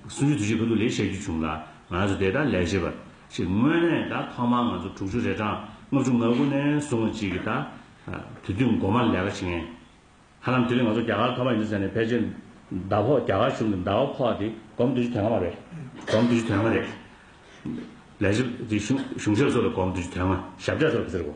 སུ་ཡོད་དུ་ཞིག་གི་འདུག་ལས་བྱ་རྒྱུ་བྱུང་ལ་ང་རང་ཚོ་དེ་ལྟར་ལས་བྱེད་པ་ཞིག་དངོས་གནས་ད་ཐོག་མར་ང་ཚོ་དྲུག་ཅུ་རེ་གྲངས་ལྔ་བཅུ་ང་དགུ་ནས་བཟུང་བ་ཅིག་གིས་ད་དུས་དུས་མགོ་མར་ལས་ཀ་བྱེད་མཁན་ཧ་ལམ་དེ་རིང་ང་ཚོ་རྒྱ་གར་ཐོག་མ་ཡིན་ཟེར་ནས་ཕལ་ཆེར་ཟླ་ཕོག་རྒྱ་གར་གཞུང་གི་ཟླ་བ་ཕོག་དེ་སྒོར་མོ་བདུན་ཅུ་དོན་ལྔ་མ་རེད་སྒོར་མོ་བདུན་ཅུ་དོན་ལྔ་རེད། ལས་བྱེད་པ་དེ་གཞུང་ཞབས་སོགས་ལ་སྒོར་མོ་བདུན་ཅུ་དོན་ལྔ་ཞབས་གྲས་སོགས་ཀྱིས་ཟེར་གོ།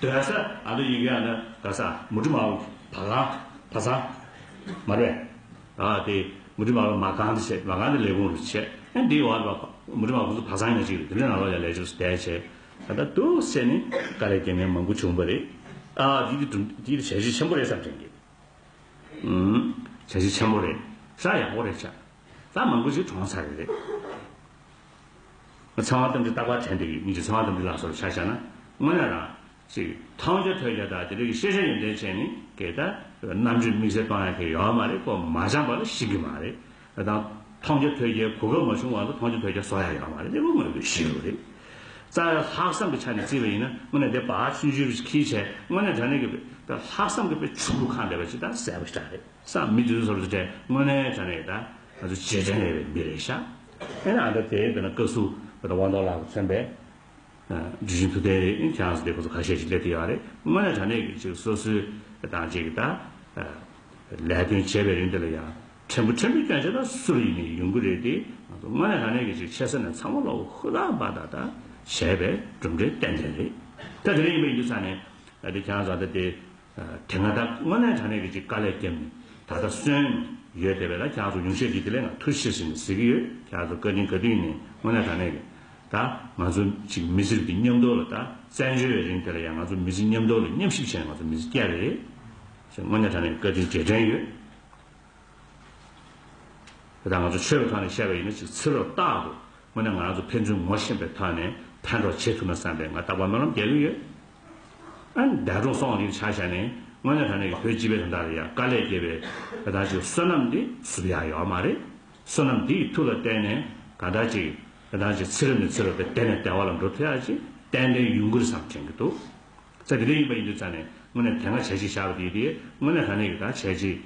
དོན་ས་ཨ་ལུ་ཡིག་ཡང་ན་ག་ས་མུ་དྲི་མ་ཨུ་བ་ག་བ་ས་མ་རེ་ཨ་དེ་མུ་དྲི་མ་ཨུ་མ་གང་དུ་བྱེད་མ་གང་དུ་ལས་གོང་རུ་བྱེད་ཨ་འདི་ཨོ་ཨ་མུ་དྲི་མ་ཁོང་ཚོ་བ་ས་ཉོ་ཅིག་རེད་དེ་ནས་ཨ་ལོ་ཡ་ལས་ཅུགས་སུ་བསྡད་བྱེད་ད་ད་དུ་བྱེད་ནི་ཀ་ལས་རྐྱེན་ངན་མང་པོ་བྱུང་བ་རེད་ཨ་འདི་འདི་འདྲུ་འདི་འདྲུ་བྱ་གཞི་ཆེན་པོ་རེད་བསམ་དྲན་གི་ཨུ་བྱ་གཞི་ཆེན་པོ་རེད་ས་ཡག་པོ་རེད་བྱ་ས་མང་པོ་ཞིག་གྲོངས་ཚར་རེད། ཚང་བ་ཙམ་གྱི་རྟག་པར་དྲན་པའི་ཡིད་ཀྱིས་ཚང་བ་ཙམ་གྱི་ལགས་སོར་ཕྱག་བྱ་ན། སྔོན་ལ་རང། ཅིག། མཐོང་བྱ་ཐོས་བྱ་དག་དེ་དག་གི་ཤེས་བྱ་ཡོན་ཏན་ཅན་ནི་གེ་ད། རྣམ་དཔྱོད་དམིགས་བསལ་གཏོང་ཡ་མཁན་ཡོད་མ་རེད་ཀོ་མ་སྦྱངས་པ་ལ་ཤེས་གི་མ་རེད། དེ་དང། མཐོང་བྱ་ཐོས་བྱའི་གོ་སྐབས་མ་བྱུང་བ་ལ་མཐོང་བྱ་ཐོས་བྱ་བཟོ་ཡ་ཡོད་མ་རེད་དེ་ཀོ་དངོས་པོའི་ཤེས་རབ་རེད། རྩ་བའི་ལྷག་བསམ་གྱི་ཆ་ནས་བརྩིས་པ་ཡིན་ན་དངོས་གནས་དེ་བག་ཆུན་བཞི་རུ་ཁྱིའི་ཆས་དངོས་གནས་དྲ་གནས་ཀྱི། ལྷག་བསམ་གྱི་པའི་ཆུ་བུར་ཁ་འདེབས་པ་ཇི་ལྟར་གསལ་པོ་ཞིག་འདྲ་རེད། སང་མི་དུས་སོར་ཏྲེ་དངོས་གནས་ད་ནས་ད་ང་ཚོ་ཇེ་དྲན་བའི་མི་རེད་ཤག་ཨེ་ན་ད་དེ་བས་ན་བཀའ་ཟུ་བ་དང་དབང་རྡོར་ལགས་མཚན་པས་དྲི་བཞིན་དུ་བསྟན་རེད་ཁྱེད་རང་ཚོ་དེ་ཁོ་ཚོ་ཁ་ཤས་ཤིག་སླེབས་ཏེ་ཡག་རེད་དངོས་གནས་ད་ནས་ཀྱི་ཅིག་སོ་སོའི་དང་ཅིག་ད་ལས་དོན་བྱས་པའི་རིང་འདི་ལ་ཡང་ཕྲན་བུ་ཕྲན་བུ་སྐྱོན་ཆ་ད་སུ་རུ་ཡིན་ནས་ཡོང་གི་རེད་དེ་ང་ཚོ་དངོས་གནས་ད་ནས་ཀྱི་ཅིག་ཆེ་ས་ནས་ཚང་མ་ལོག་ཧུ་ལག་འབའ་ད་ད་བྱས་པའི་གྲུབ་འབྲས་ཏན་ཏན་རེད་ད་དེ་འདྲ་ཡིན་པ་ཡིན་དུས་ས་ནས་ད་དེ་ཁྱེད་རང་ཚོ་ད་དེ། དེ་སྔ་ད་སྔོན་ནས་དྲ་གནས་ཀྱི་ཅིག་དཀའ་ལས་བརྒྱབ་ནས་ད་ལྟ་སོན། ཡོད་དེ་བས་ལ་ཁྱག་ཚོ་ཉུང་ཤས་ཀྱིས་དེ་ལས་ང་ཐུ་ཤི་ཟེར་ནས་ཟེར་གྱི་ཡོད་ཁྱག་ཚོ་བཀའ་དྲིན་ག་དུས་ནས་སྔོན་ནས་དྲ་གནས་ཀྱི་ད་ང་ཚོ་ཅིག་མི་ཟིར་གྱི་མཉམ་འདོར་ལ་ད་བཙན་བྱོལ་བའི་རིང་དེ་ལ་ཡང་ང་ཚོ་མི་ཟིར་མཉམ་འདོར་ལ་མཉམ་ཞིབ་བྱས་ནས་ང་ཚོ་མི་ཟིར་སྐྱ་རེད་ཟེར་སྔོན་ནས་དྲ་གནས་ཀྱི་བཀའ་དྲིན་རྗེས་དྲན་ཡོད། དེ་ད་ང་ཚོ་ཆོས་པའི་ཐོག་ནས་བཤད་པ་ཡིན་ན་ཅིག་ཚིག་རོ་བཏགས་འདུག་དངོས་གནས་ང་རང་ཚོ་ཕན་ཚུན་ངོ་ཤེས་པའི་ཐོག་ནས་ཕན་གྲོགས་བྱེད་ཐུབ་ན་བསམ་པའི་ང་རྟག་པར་སྨོན་ལམ་རྒྱག་གིན་ཡོད། ཨ་ནི་འདས་གྲོངས་སོང་བ་འདི་ཆ་བཞག་ནས་དངོས་གནས་ད་ནས་ཀྱི་བོད་སྤྱི་པའི་དོན་དག་རེད་ཡ་དཀའ་ལས་སྐྱེས་པའི་དེ་དག་ཅིག་བསོད་ནམས་འདི་བསུབ་ཡག་ཡོད་མ་རེད། བསོད་ནམས་འདི་ཡི་ཐུགས་ལ་བརྟེན་ནས་གང་དག་ཅིག་དེ་དག་ཅིག་ཚེ་རབས་ནས་ཚེ་རབས་དེ་དལ་ནས་དལ་བ་ལ་འགྲོ་ཐུབ་ཡག་ཅིག་ཏན་ཏན་ཡུན་ཁུར་བསམ་དྲན་གྱི་འདུག་ཚེ་འདི་འདྲའི་ཡིན་པ་ཡིན་དུས་ཙམ་ནས་དངོས་གནས་དེ་སྔ་བྱས་ཅིག་བཞག་པ་དེ་ཡིན་དེ་དངོས་གནས་ད་ནས་ཀྱི་ད་བྱས་ཅིག།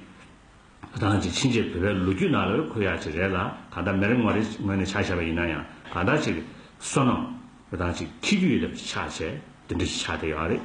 རང་གི་ཕྱིན་ཆད་བོད་པའི་ལོ་རྒྱུས་ནང་ལོས་འཁོད་ཡག་ཅིག་རེད་ལ་གང་ལྟར་མེ་རི་ངོ་རེ་ངོས་ནས་ཆགས་བཞག་པ་ཡིན་ན་ཡང་གང་ལྟར་ཅིག། བསོད་ནམས། རང་གཅིག་འཁྱིལ་རྒྱུ་ཡི་ཐབས་ཅིག་ཆགས་བྱས་དེ་འདྲ་ཞིག་ཆགས་བསྡད་ཡོད་རེད།